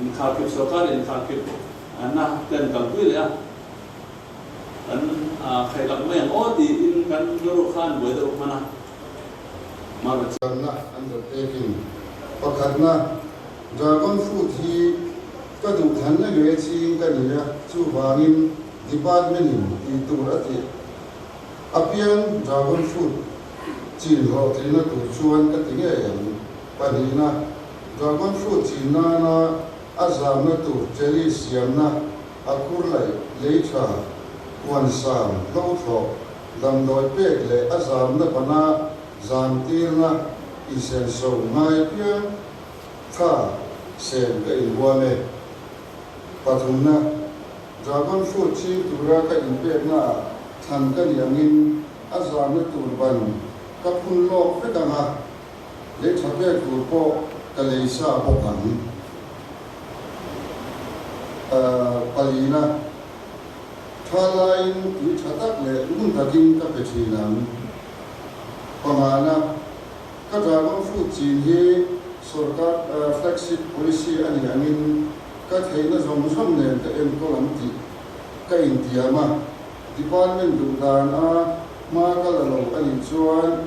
inkhar kip sorkari inkhar kip na ten kan pui leh a kan khai tak mai ang aw ti in kan rawk kha an buai deuh hman a mar a chiang na an zawt pek in pakhat na dragon fruit hi ka duh than na nge chi in ka ni a chu vang in department in ti tur a tih apiang dragon fruit chin rawh tli na tur chuan ka ti ngei ang Pahnihna, Garvan hrut chin nana a zamna tur Cherry siamna, a khur laih, lei tha, huan sam, hlothlawh, damdawi pek leh a zamna vana zam tirna insenso ngai piang kha sem ka inhuam e. Pathumna, Garvan hrut ching tura ka inpekna ah thlan ka nih angin a zamna tur ban ka phun lawk vek ang a, lei tha pek tur pawh ka lei sa bawk ang. Palina, tha laiin tui tha tak leh ngun takin ka pe thin ang. Pamana, ka dragon fruit chin hi sorkar flagship policy a nih angin ka theihna zawng zawng nen ka enkawl ang tih ka intiam a, department duhdan a hma ka la lo a nih chuan,